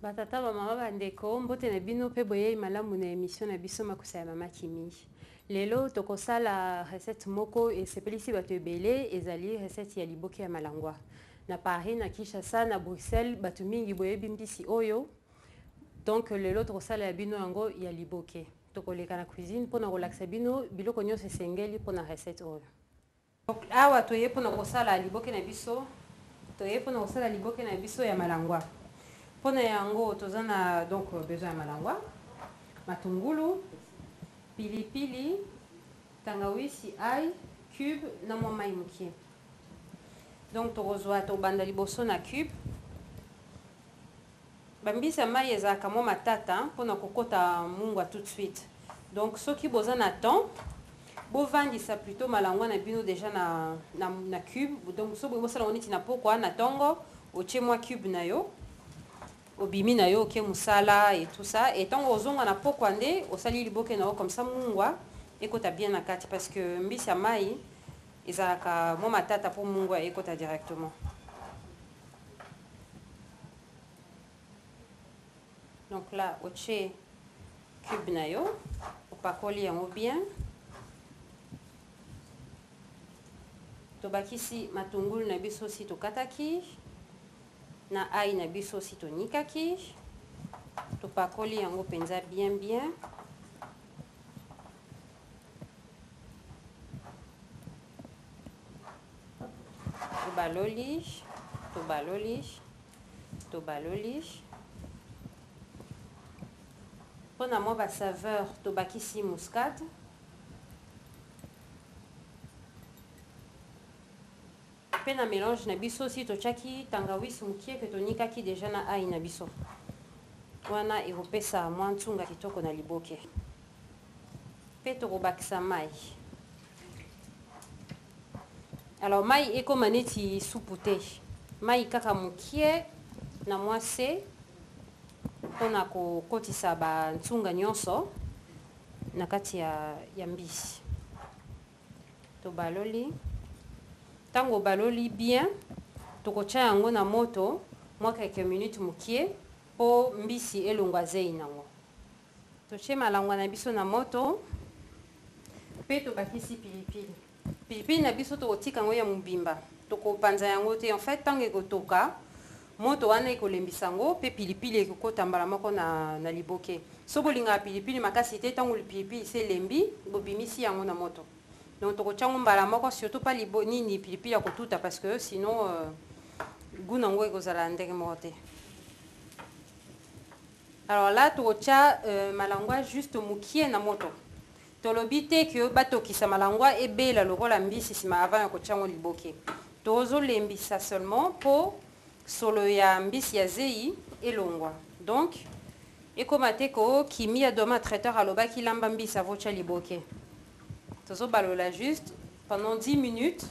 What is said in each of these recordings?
Ba tata, ba mama, ba ndeko, mbote na bino pe boyeyi malamu na emission na biso makusa ya mama Kimi. Lelo tokosala recette moko esepelisi bato ebele, ezali recette ya liboke ya malangwa. Na Paris, na Kinshasa, na Bruxelles, bato mingi boyebi mbisi oyo. Donc lelo tokosala ya bino yango ya liboke. Tokoleka na cuisine pona kolakisa bino biloko nyonso esengeli pona recette oyo. Awa toye mpo na kosala liboke na biso, toye mpo na kosala liboke na biso ya malangwa. Mpo na yango toza na donc besoin ya malangwa, matungulu, pili pili, tangawisi, ail, cube na mwa mayi mokie. Donc tokozwa tobanda liboso na cube. Ba mbisi ya mayi ezalaka mwa matata pona ko kota mungwa tout de suite donc soki boza na temps bo vandisa plutot malangwa na bino dejà na na cube donc soki bolingi bosala ngo neti na pokwa na tongo otie mwa cube na yo obimi na yo oke musala et tout ça et tongo ozonga na pokwa nde osali liboke na yo comme ça mungwa ekota bien na kati parce que mbisi ya mayi ezalaka mwa matata po mungwa ekota directement donc là otie cube na yo opakoli yango bien tobakisi matungulu na biso si tokataki na ai na biso si tonikaki topakoli yango mpenza bien bien Tobaloli, tobaloli, tobaloli. Mpo na mwa ba saveur tobakisi muscade. Mpe na melange na biso si totyaki tangawisi mokie mpe tonikaki deja na ai na biso, wana ekopesa mwa nsunga kitoko na liboke. Mpe tokobakisa mai. Alors mai ekoma neti supu te, mai kaka mokie na mwa se mpo na kokotisa bansunga nyonso na kati ya, ya mbisi. Tobaloli. Ntango obaloli bien, tokotya yango na moto mwa quelques minutes mokie mpo mbisi elongwa zei nango. Totye malangwa na biso na moto mpe tobakisi pilipili. Pilipili na biso tokotika yango ya mobimba, tokopanza yango te. En fait, ntango ekotoka, moto wana ekolembisa yango mpe pilipili ekokota mbala moko na, na liboke. So bolingaka pilipili makasi te, ntango pilipili se elembi, bobimisi yango na moto. Donc tokotya yango mbala moko, surtout pas libo nini pilipili ya kotuta parce que sinon euh, goût nango ekozala ndenge moko te. Alors là tokotya euh, malangwa juste mukie na moto tolobi te que batokisa malangwa ebela lokola mbisi nsima avant ya kotya yango liboke tozolembisa seulement mpo solo ya mbisi ya zeyi elongwa donc ekoma te ko kimi ya doma traiteur alobaki lamba mbisi avotya liboke tozobalola juste pendant 10 minutes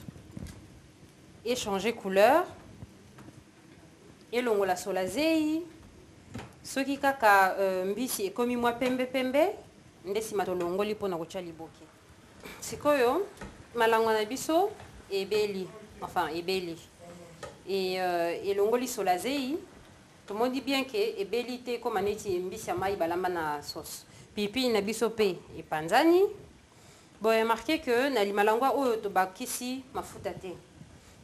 échanger couleur elongola sola zeyi soki kaka euh, mbisi ekomi mwa pembe pembe nde nsima tolongoli mpo na kotya liboke sikoyo malangwa na biso ebeli enfin ebeli e, euh, elongoli sola zeyi tomoni bien ke ebeli te ekóma neti mbisi ya mai balamba na sauce pilipili na biso mpe epanzani Bo remarquer que na limalangwa oyo tobakisi mafuta te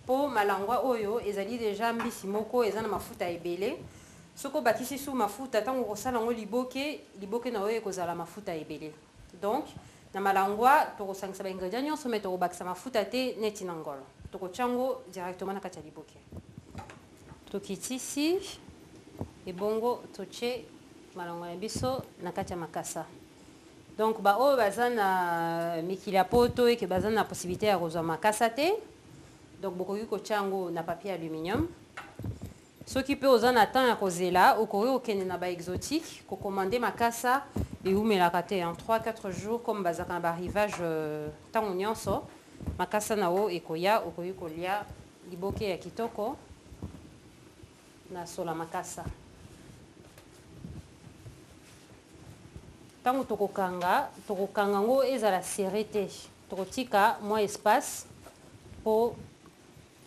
po malangwa oyo ezali dejà mbisi moko eza na mafuta ebele. Soki obakisi su mafuta tango okosala yango liboke, liboke na yo ekozala mafuta ebele. Donc, na malangwa tokosangisa ba ingredients nionso mais tokobakisa mafuta te neti na ngolo. Tokotia yango directement na kati ya liboke. Tokitisi ebongo totie malangwa na biso na kati ya makasa. Donc ba oyo baza na mikili ya poto et que baza na possibilite ya kozwa makasa te, donc bokoki kotia yango na papier aluminium. Soki pe oza na temps ya kozela, okoki kokende na ba exotiques ko commander makasa, ewumelaka te en trois, quatre jours comme bazalaka na ba arrivage tango nionso, makasa na yo ekoya, okoki kolia liboke ya kitoko. Na sola makasa. Tango toko kanga, toko kanga ngo ezala serre te. Toko tika mwa espace po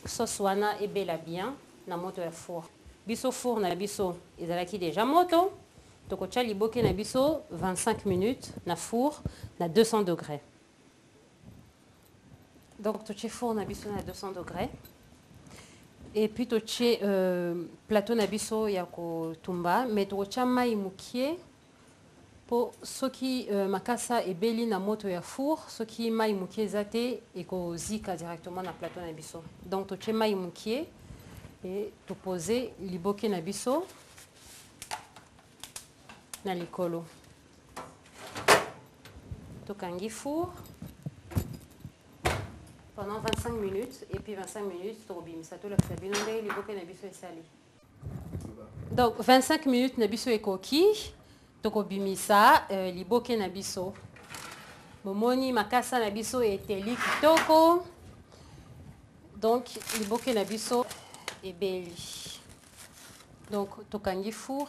sauce wana ebela bien na moto ya four. Biso four na biso ezalaki dejà moto, toko tia liboke na biso 25 minutes na four na 200 degres. Donc, tu es four na biso na 200 degrés. Et puis, tu es euh, plateau na biso ya ko tumba, mais tu as mai mukie pour ceux qui euh, makasa et beli na moto ya four, ceux qui mai mukie zate et ko zika directement na plateau na biso. Donc, tu es mai mukie et tu poses liboke na biso na likolo. tokangi four pendant 25 minutes et puis 25 minutes tokobimisa tolakisa bino ndenge liboke na biso esali donc 25 minutes na biso ekoki tokobimisa euh, liboke na biso bomoni makasa na biso eteli kitoko donc liboke na biso ebeli donc tokangi four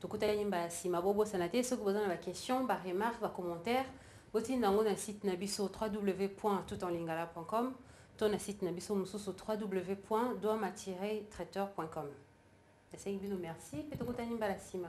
tokutani nyimba ya nsima bobosana te soki boza na baquestion baremarque bacommentaire botinda yango na site na biso www tout en lingala com to na site na biso mosusu www doama traiteur com nasengi bino merci mpe tokutani mbala nsima